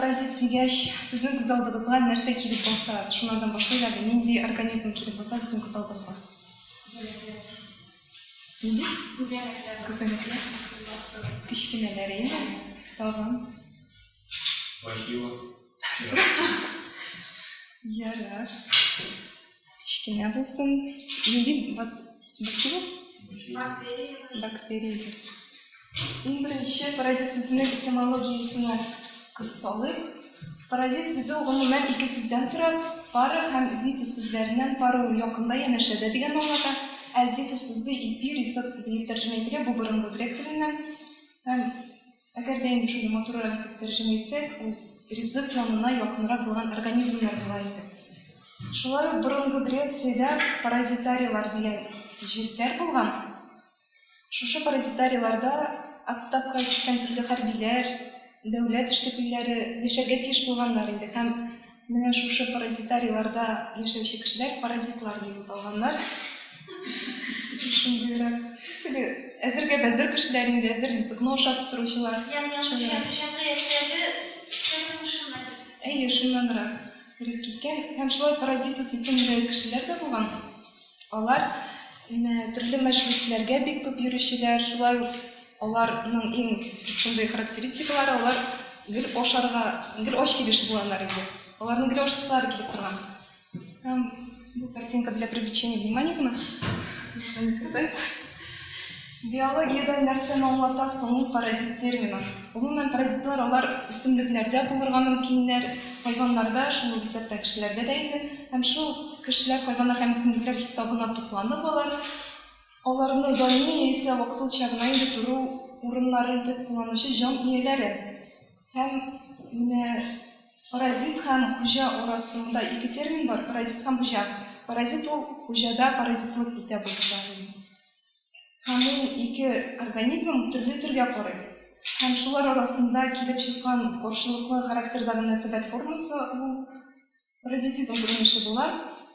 паразит дигәч, сезнең күз алдыгызга нәрсә килеп баса? Шуннан башлыйк әле, нинди организм килеп баса сезнең күз алдыгызга? Нинди? Күзәнәкләр. Күзәнәкләр. Кечкенәләр, әйе? Тагын. Бахила. Ярар. Кечкенә булсын. Нинди бак... бактерия? Бактерияләр. Бактерияләр. Иң беренче паразит сүзенең этимологиясенә күз салыйк. Паразит сүзе гомумән ике сүздән тора. Пара һәм зита сүзләреннән пара ул якында янәшәдә дигән мағынада, ә зита сүзе ипи, ризык дип тәрҗемә ителә, бу борынгы грек теленнән. Һәм Әгәр дә инде шуны матуррак итеп тәрҗемә итсәк, ул ризык янына якынрак булган организмнар була иде. Шулай ук борынгы Грециядә паразитарийлар дигән җирләр булган. Шушы паразитарийларда отставкага киткән төрле хәрбиләр, дәүләт эшлеклеләре яшәргә тиеш булганнар иде һәм Менә шушы паразитарийларда яшәүче кешеләр паразитлар дип аталганнар. Шундыйрак. Теге әзергә бәзер кешеләр инде, әзер ризыкны ашап утыручылар. Әйе, шуннанрак кереп киткән. Һәм шулай паразиты сисенүдәге кешеләр дә булган. Алар төрле мәҗлесләргә бик күп йөрүчеләр, шулай ук аларның иң шундый характеристикалары, алар гел ашарга, гел ач килеш булганнар иде. Аларның гел ашсызлары килеп торган. Һәм бу картинка для привлечения внимания гына. Биологиядән нәрсәне аңлата соң паразит термины? Гомумән, паразитлар алар үсемлекләрдә булырга мөмкиннәр, хайваннарда, шул ук исәптә кешеләрдә дә инде. Һәм шул кешеләр, хайваннар һәм үсемлекләр хисабына тупланып алар, аларны даими яисә вакытылча гына инде тору урыннары итеп кулланучы җан ияләре. Һәм менә паразит һәм хуҗа арасында ике термин бар, паразит һәм хуҗа. Паразит ул хуҗада паразитлык итә булучы организм. һәм ул ике организм төрле төргә карый. Һәм шулар арасында килеп чыккан каршылыклы характерда мөнәсәбәт формасы ул паразитизм күренеше була.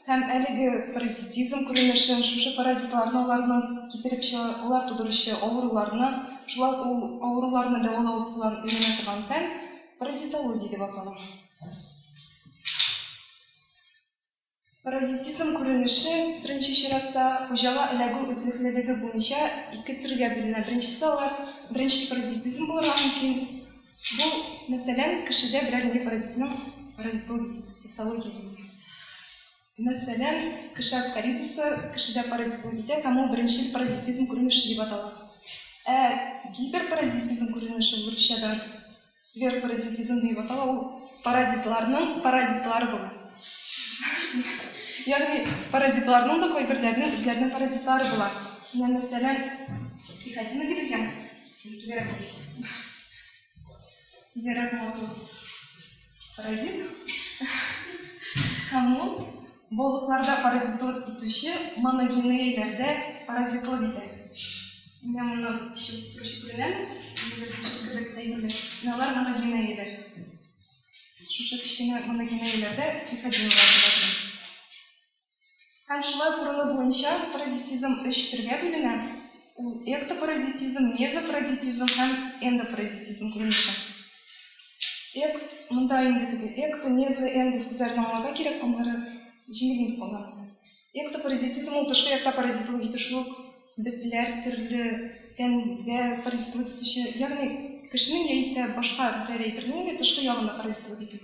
Һәм әлеге паразитизм күренешен шушы паразитларны аларның китереп чыгар, алар тудыручы авыруларны, шулай ул авыруларны дәвалау ысулларын өйрәнә торган фән паразитология дип атала. Паразитизм күренеше, беренче чиратта, хуҗага эләгү эзлеклелеге буенча ике төргә бүленә. Беренчесе алар беренчел паразитизм булырга мөмкин. Бу, мәсәлән, кешедә берәр инде паразитның паразитологик дефтология дигән. Мәсәлән, кеше аскаридосы кешедә паразитлык итә һәм ул беренчел паразитизм күренеше дип атала. Ә гиперпаразитизм күренеше урысчадан Зверопаразитизм диеп атала, ул паразитларның паразитлары бу. Ягъни паразитларның да кайберләрнең үзләренең паразитлары була. Менә мәсәлән, приходина дип икән. Түгәрәк булды. Түгәрәк матур. Паразит. Һәм ул Бобыкларда паразитлык итүче моногенейләрдә паразитлык итә. Менә моннан чыгып торучы күренәме? Нидер чүп кебек әйберләр. Менә алар моногенейләр. Шушы кечкенә моногенейләрдә трихогенлар дип атыйбыз. Һәм шулай корылу буенча паразитизм өч төргә бүленә. Ул эктопаразитизм, мезопаразитизм һәм эндопаразитизм күренеше. Эк, монда инде теге экто, мезо, эндо сүзләрен аңларга кирәк, аннары җиңел инде кала. Эктопаразитизм ул тышкы якта паразитлык итү шул ук бетләр төрле тәндә паразитлык итүче, ягъни кешенең яисә башка берәр әйбернең тышкы ягында паразитлык итү.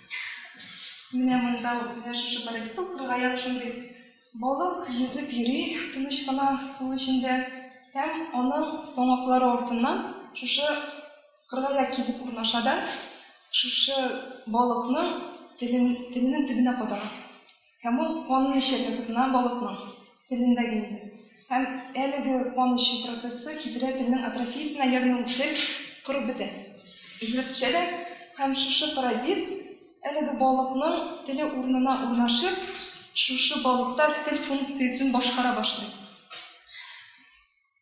Менә монда ук, менә шушы Борисовка районы шундый. Балык йөзеп йөри тыныч кына су эчендә һәм аның соңаклары артыннан шушы кыргая килеп урнаша да, шушы балыкның телен, теленең төбенә кадала. Һәм ул канын эчәргә тотына, балыкның телендәге инде. Һәм әлеге кан эчү процессы хитрә телнең атрофиясенә, ягъни ул тел корып бетә, өзелеп төшә дә, һәм шушы паразит әлеге балыкның теле урынына урнашып, шушы балыкта тел функциясен башкара башлый.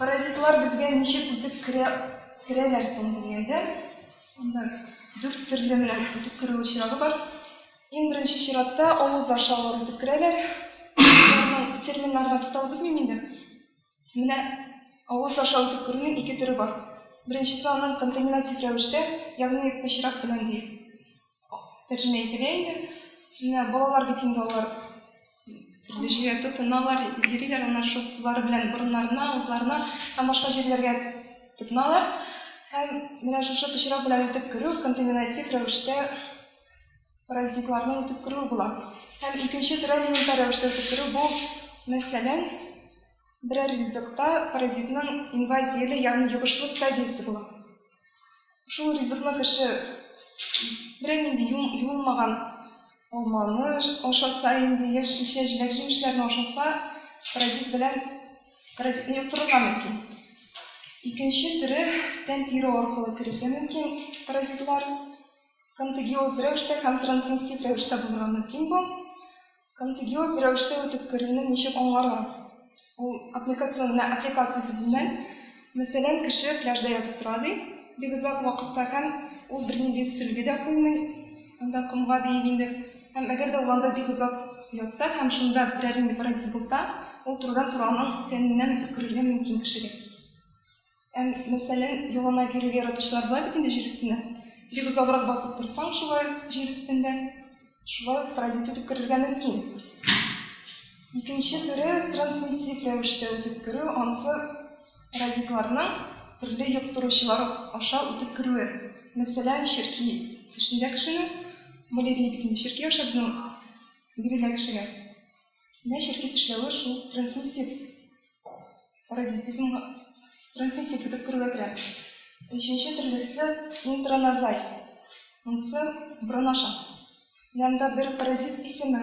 Паразитлар безгә ничек үтеп керә, керәләр соң дигәндә, анда дүрт төрле генә үтеп керү очрагы бар. Иң беренче чиратта авыз аша алар үтеп керәләр. Аларның терминнарына тукталып бетмим инде. Менә авыз аша үтеп керүнең ике төре бар. Беренчесе аның контаминатив рәвештә, ягъни пычрак белән ди. тәрҗемә ителә иде. Сүзләр балалар бит инде алар төрле җиргә тотыналар, йөриләр, аннары шул куллары белән борыннарына, авызларына һәм башка җирләргә тотыналар. Һәм менә шушы пычрак белән үтеп керү контаминатив рәвештә паразитларның үтеп керүе була. Һәм икенче төрә элементар рәвештә үтеп керү бу, мәсәлән, берәр ризыкта паразитның инвазияле, ягъни йогышлы стадиясе була. Шул ризыкны кеше бернинди юылмаган алманы ашаса, инде яшь шешә җиләк-җимешләрне ашаса, паразит белән паразитны йоктырырга мөмкин. Икенче төре тән тире аркылы керергә мөмкин паразитлар. Контагиоз рәвештә һәм трансмиссив рәвештә булырга мөмкин бу. Контегиоз рәвештә үтеп керүне ничек аңларга? Ул аппликацион, менә аппликация сүзеннән, мәсәлән, кеше пляжда ятып тора, ди, бик озак вакытка һәм ул бернинди сөлге дә куймый анда комга диик инде. Һәм әгәр дә ул анда бик озак ятса һәм шунда берәр нинди паразит булса, ул турыдан-туры аның тәненнән үтеп керергә мөмкин кешегә. Әм, мәсәлән, яланаяк йөрергә яратучылар була бит инде җир өстендә. Бик озаграк басып торсаң, шулай ук җир өстендә, шулай ук паразит үтеп керергә мөмкин. Икенче төре трансмиссив рәвештә үтеп керү, анысы паразитларның төрле йоктыручылар аша үтеп керүе. Мәсәлән, черки кешедә кешене, малярия бит инде черки аша безнең бирелә кешегә. Менә черки тешләве шул трансмиссив паразитизмга, трансмиссив үтеп керүгә керә. Өченче төрлесе интраназаль. Монысы борын аша. Менә монда бер паразит исеме,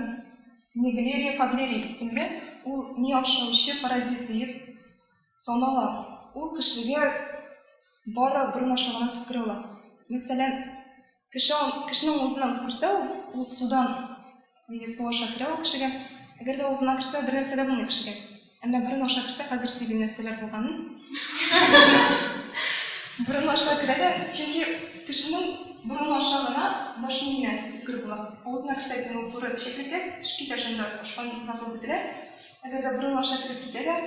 Неглерия фаблерия исемле, ул ми ашаучы паразит диеп санала. Ул кешегә бары борын аша гына үтеп керә ала. Мәсәлән, Кеше, кешенең узына керсә, ул судан, нигә су аша керә ул кешегә, әгәр дә узына керсә, бер нәрсә дә булмый кешегә. Әмма борын аша керсә, хәзер сөйлим нәрсәләр булганын. Борын аша керә дә, чөнки кешенең борын аша гына баш миенә үткер була. Авызына керсә генә ул туры эчәклеккә төшеп китә, шунда ашкан вакыт бетелә. Әгәр дә борын аша кереп китә дә,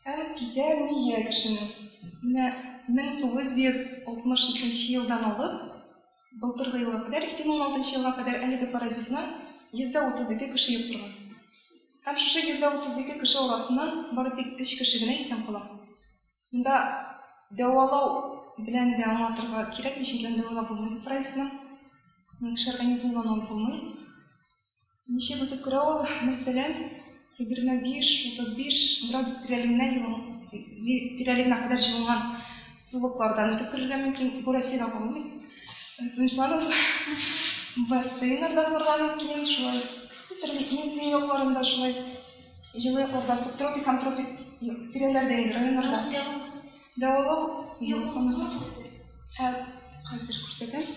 Ә китәр ние кешенең? Менә 1962 елдан алып былтыргы елга кадәр, 2016 елга кадәр әлеге паразитны 132 кеше йоктырган. Һәм шушы 132 кеше арасыннан бары тик 3 кеше генә исән кала. Монда дәвалау белән дә аңлатырга кирәкми, чөнки аны дәвалап булмый бу паразитны. Кеше организмыннан алып булмый. Ничек үтеп керә ул, мәсәлән, 25-35 градус тирәлегенә тирәлегенә кадәр җылынган сулыклардан үтеп керергә мөмкин. Бу Россиядә булмый. Тынычланып, бассейннарда булырга мөмкин. Шулай төрле Индия якларында шулай җылы якларда субтропик һәм тропик тирәләрдә инде районнарда. Дәвалау юк. Хәзер күрсәтәм.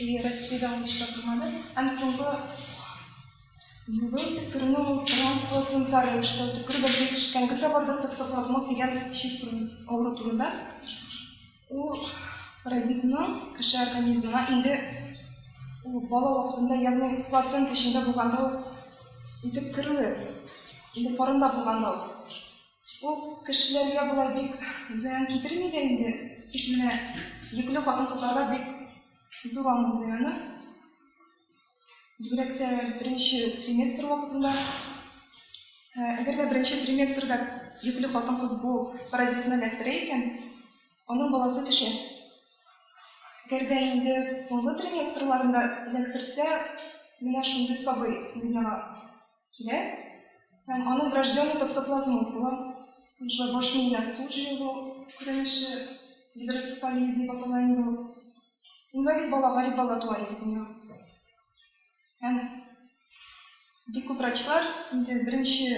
И Россиядә ул нишләп булмады? Һәм соңгы юлы төкерүне ул трансплацента рәвештә төкерү бәлки төшкәнге сабарда токсоплазмоз дигән чир авыру турында. Ул паразитның кеше организмына инде ул бала вакытында, ягъни плацент эчендә булганда ул үтеп керүе, инде карында булганда ул. Ул кешеләргә болай бик зыян китерми дә инде, тик менә йөкле хатын-кызларга бик зур аның зыяны. Бигрәк тә беренче триместр вакытында. Ә, әгәр дә беренче триместрда йөкле хатын-кыз бу паразитны эләктерә икән, аның баласы төшә. Әгәр дә инде соңгы триместрларында эләктерсә, менә шундый сабый дөньяга килә һәм аның врожденный токсоплазмоз була. Шулай баш миенә су җыелу күренеше гидроцефалия дип атала инде ул. Инвалид бала, гарип бала туа инде дөнья. Һәм бик күп врачлар инде беренче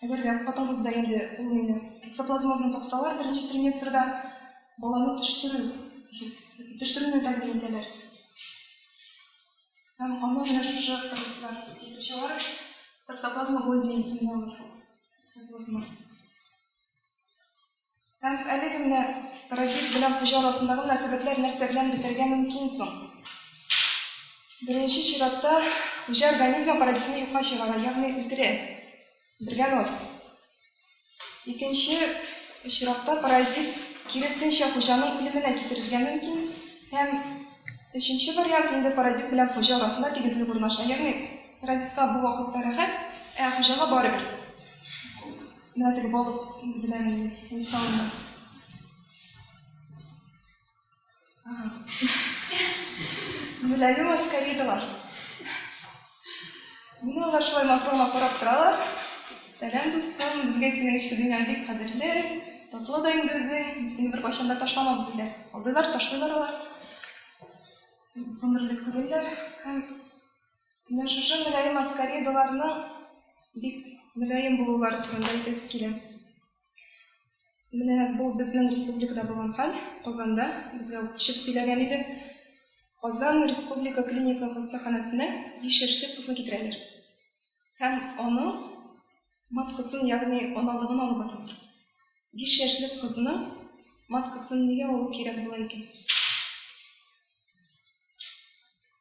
әгәр дә хатын-кызда инде ул инде токсоплазмозны тапсалар, беренче триместрда баланы төштерү төштерүне тәкъдим итәләр. Һәм аны менә шушы кырмыслар китереп чыгар. Таксоплазма Голди исемле ул. Таксоплазма. Һәм әлеге менә паразит белән хуҗа арасындагы мөнәсәбәтләр нәрсә белән бетәргә мөмкин соң? Беренче чиратта хуҗа организмы паразитны юкка чыгара, ягъни үтерә. Бергә ноль. Икенче очракта паразит киресенчә хуҗаның үлеменә китерергә мөмкин һәм өченче вариант инде паразит белән хуҗа арасында тигезлек урнаша. Ягъни паразитка бу вакытта рәхәт, ә хуҗага барыбер. Менә теге балык белән мисалны. Гөләли Маскаридова. Менә алар шулай матрома карап торалар. Сәлам, дустым, безгә синең эчке дөньяң бик кадерле, татлы да инде үзең, сине бер кайчан да ташламабыз диләр. Алдыйлар, ташлыйлар алар. Гомерлек түгелләр. Һәм менә шушы мөлаем Маскаридовларның бик мөлаем булулары турында әйтәсе килә. Менә бу безнең республикада булган хәл. Казанда безгә укытучы сөйләгән иде. Казан республика клиника хастаханәсенә 5 яшьлек кызны китерәләр. Һәм аның маткасын, ягъни аналыгын алып аталар. 5 яшьлек кызны маткасын нигә алу кирәк була икән?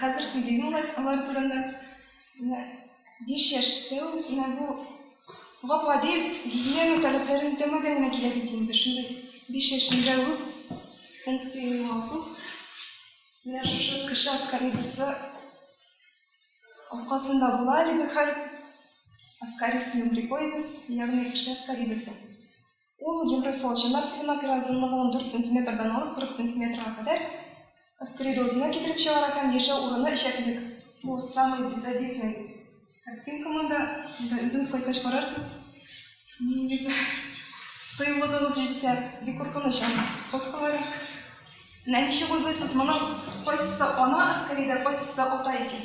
Хәзер сөйлим алар, алар турында. Менә 5 яшьтә ул менә бу гап-гади гигиена таләпләрен үтәмәдән генә килә бит инде. Шундый 5 яшендә үк функция югалту. Менә шушы кеше аскаридасы аркасында була әлеге хәл. Аскарис мембрикоидес, ягъни кеше аскаридасы. Ул Евросол чаннар сигенә күрә озынлыгының 4 сантиметрдан алып 40 сантиметрга кадәр аскариды үзенә китереп чыгара һәм яшәү урыны эчәклек. Бу самый безобидный картинка монда. Монда үзегез кайткач карарсыз. Нигез кыюлыгыгыз җитсә, бик куркыныч аны коткаларак. Менә ничек уйлыйсыз, моның кайсысы ана аскарида, кайсысы ата икән?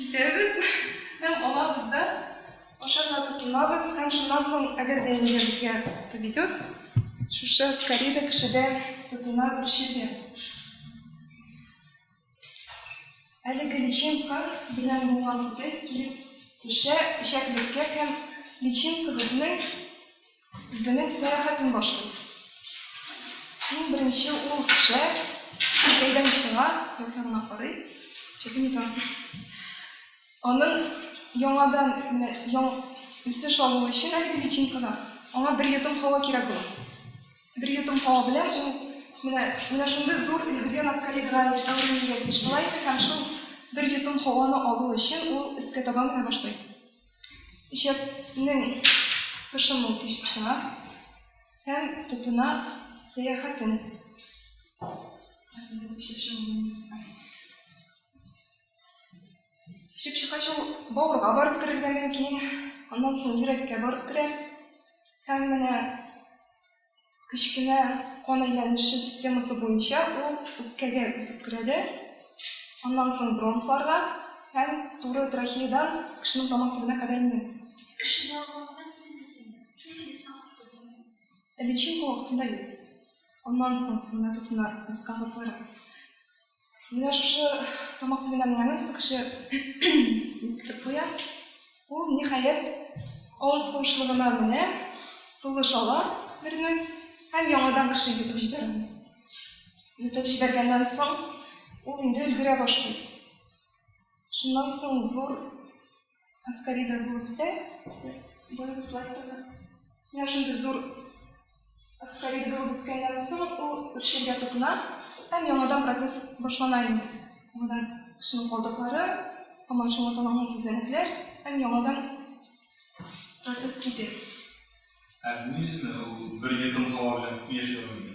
Итәбез һәм алабыз да ашарга тотынабыз һәм шуннан соң, әгәр дә инде безгә повезет, шушы скорида кешедә тотына бирчергә. Әлеге личинка белән булган күтек килеп төшә эчәклеккә һәм личинкабызның Үзенең сәяхәтен башлый. Иң беренче ул шәһәр Китайдан чыга, як ягына карый. Чәкем итә. Аның яңадан менә яң үсеш алуы өчен әлеге личинкага аңа бер йотым һава кирәк була. Бер йотым һава белән ул менә менә шундый зур өлгедән аскаридга әверелергә тиеш була иде һәм шул бер йотым һаваны алу өчен ул өскә таба менә башлый. Ишәкнең тошымын тишеп чыга һәм тотына сәяхәтен. Тишеп чыккач ул бавырга барып керергә мөмкин, аннан соң йөрәккә барып керә. Һәм менә кечкенә кан әйләнеше системасы буенча ул үпкәгә үтеп керәде, аннан соң бронхларга һәм туры трахеядан кешенең тамак төбенә кадәр менә. Кешегә алганнан сез икене, түлегез тамак төбенә. Личинка вакытында юк. Аннан соң гына тотына дискомфортлары. Менә шушы тамак төбенә менгәнен кеше ниткертеп куя. Ул, ниһаять, авыз куышлыгына менә, сулыш ала берне һәм яңадан кеше йотып җибәрә. Йотып җибәргәннән соң, ул инде өлгерә башлый. Шуннан соң зур Аскарида булып сә, булып слайдтамы? Менә шундый зур аскарида булып үскәннән соң ул үрчергә тотына һәм яңадан процесс башлана инде. Яңадан кешенең калдыклары, һаман шуңа таланган күзәнәкләр һәм яңадан процесс китә. Ә бу исеме ул бер йотым һава белән күп яши алмый.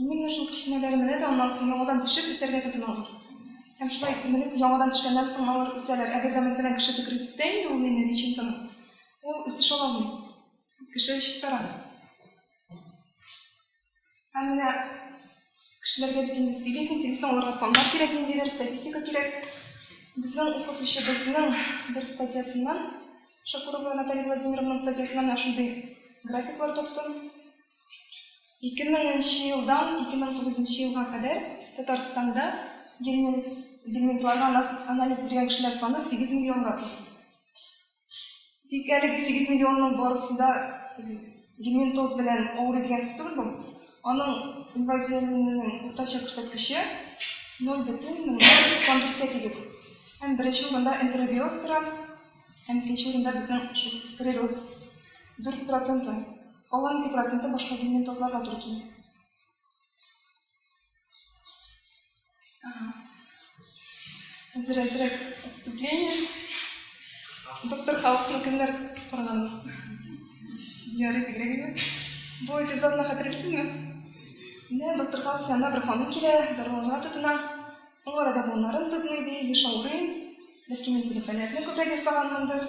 Минем менә шул кечкенәләр менә дә аннан соң яңадан төшеп, үсәргә тотыналар. Һәм шулай менеп, яңадан төшкәннән соң алар үсәләр. Әгәр дә, мәсәлән, кеше төкереп үсә инде ул нинди личинканы, ул үсеш ала алмый. Кеше чистара. Һәм менә кешеләргә бит инде сөйлисең, сөйлисең, аларга саннар кирәк, ниндидер статистика кирәк. Безнең укытучыбызның бер статьясыннан, Шакурова Наталья Владимировнаның статьясыннан менә шундый графиклар таптым. 2000 нче елдан 2009 нче елга кадәр Татарстанда гельминтларга анализ биргән кешеләр саны 8 миллионга төште. Тик әлеге 8 миллионның барысы да гельминтоз белән авыру дигән сүз түгел бу. Аның инвазияләнүенең уртача күрсәткече 0,94-кә тигез. Һәм беренче урында энтеробиоз тора, һәм икенче урында безнең шул склероз 4%. Алар ике проценты башка диннән тазларга туры килә. Хәзер әзрәк отступление. Доктор Хаусны кемнәр караган ул? Ярый бигрәк име? Бу эпизодны хәтерлисезме? Менә доктор Хаус янына бер ханым килә, зарланырга тотына. Соңгы арада буыннарым тотмый ди, еш авырыйм. Бәлки мин инде пәләкне күбрәк ясаганмындыр.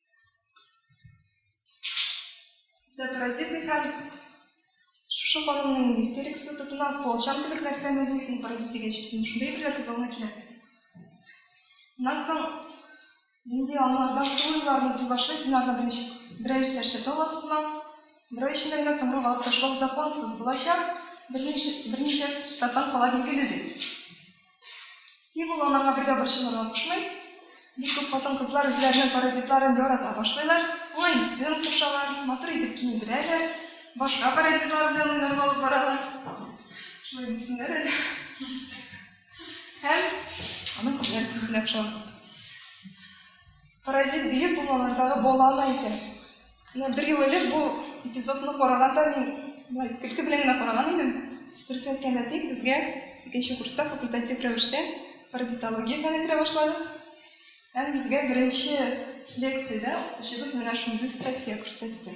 Сездә паразит икән, шушы ханымның истерикасы тотына, суалчан кебек нәрсәме бу, ул паразит дигәч бит инде шундый әйберләр күзалына килә. Аннан соң нинди анларда кулыйларны сез башлыйсыз, анардан берничә берәр сәрчә аласызмы? Берәр эчендә генә сомру алып ташлау законсыз булачак, берничә берничә статан кала билгеле ди. Тик ул аларга бер дә борчылырга кушмый. Бик күп хатын-кызлар үзләренең паразитларын ярата башлыйлар, аңа исем кушалар, матур итеп киендерәләр, башка паразитлар белән уйнарга алып баралар. Шулай дисеннәр әле. Һәм аның күзләре сизелә шул. Паразит биек булмалардагы бала ана икән. Менә бер ел элек бу эпизодны караганда мин болай көлке белән генә караган идем. Дөресен әйткәндә тик безгә икенче курста факультатив рәвештә паразитология фәне керә башлады. Һәм безгә беренче лекциядә укытучыбыз менә шундый статья күрсәтте.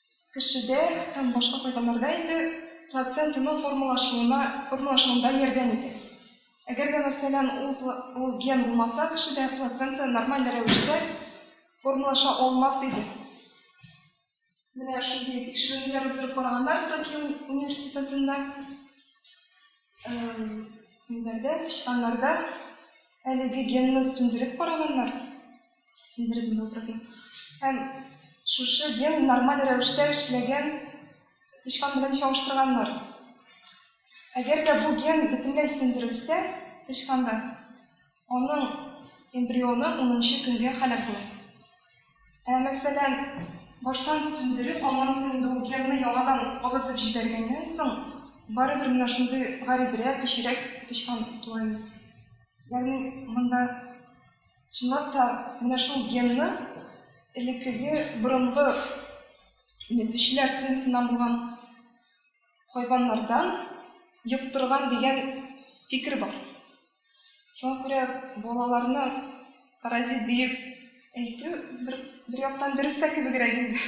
кешедә һәм башка хайваннарда инде плацентаның формалашуына, формалашуында ярдәм итә. Әгәр дә, мәсәлән, ул, ул ген булмаса, кешедә плацента нормаль рәвештә формалаша алмас иде. Менә шундый тикшеренүләр уздырып караганнар Токио университетында. Ниләрдә, тычканнарда әлеге генны сүндереп караганнар. сиздердем образын. Һәм шушы ген нормаль рәвештә эшләгән тычкан белән чагыштырганнар. Әгәр дә бу ген бөтенләй сүндерелсә тычканда, аның эмбрионы унынчы көнгә һәлак була. Ә мәсәлән, баштан сүндереп, аннан соң инде ул генны яңадан кабызып җибәргәннән соң, барыбер менә шундый гарибрәк, кечерәк тычкан туа инде. Ягъни монда Чынлап та, менә шул генны элеккеге борынгы мөзүчеләр сыйныфыннан булган хайваннардан йоктырган дигән фикер бар. Шуңа күрә балаларны паразит диеп әйтү бер яктан дөрес тә кебегрәк инде.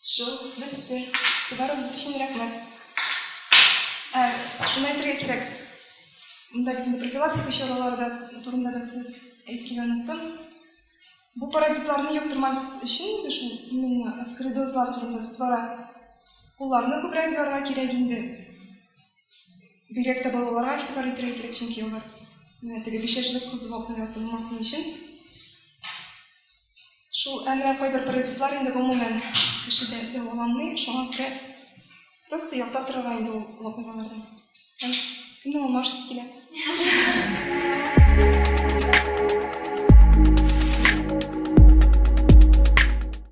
Шул, бетте. Барыгыз өчен рәхмәт. Ә, шуны әйтергә кирәк. Монда бит инде профилактика чаралары да турында да сүз әйтергә оныттым. Бу паразитларны йоктырмас өчен инде шул именно аскоридозлар турында сүз бара. Кулларны күбрәк юарга кирәк инде. Бигрәк тә балаларга игътибар итәргә кирәк, чөнки алар менә теге биш яшьлек кыз вакыйгасы булмасын өчен. Шул, ә менә кайбер паразитлар инде гомумән кешедә дәваланмый, шуңа күрә просто яктап торырга инде ул вакыйгалардан. Һәм кемнең алмашысы килә?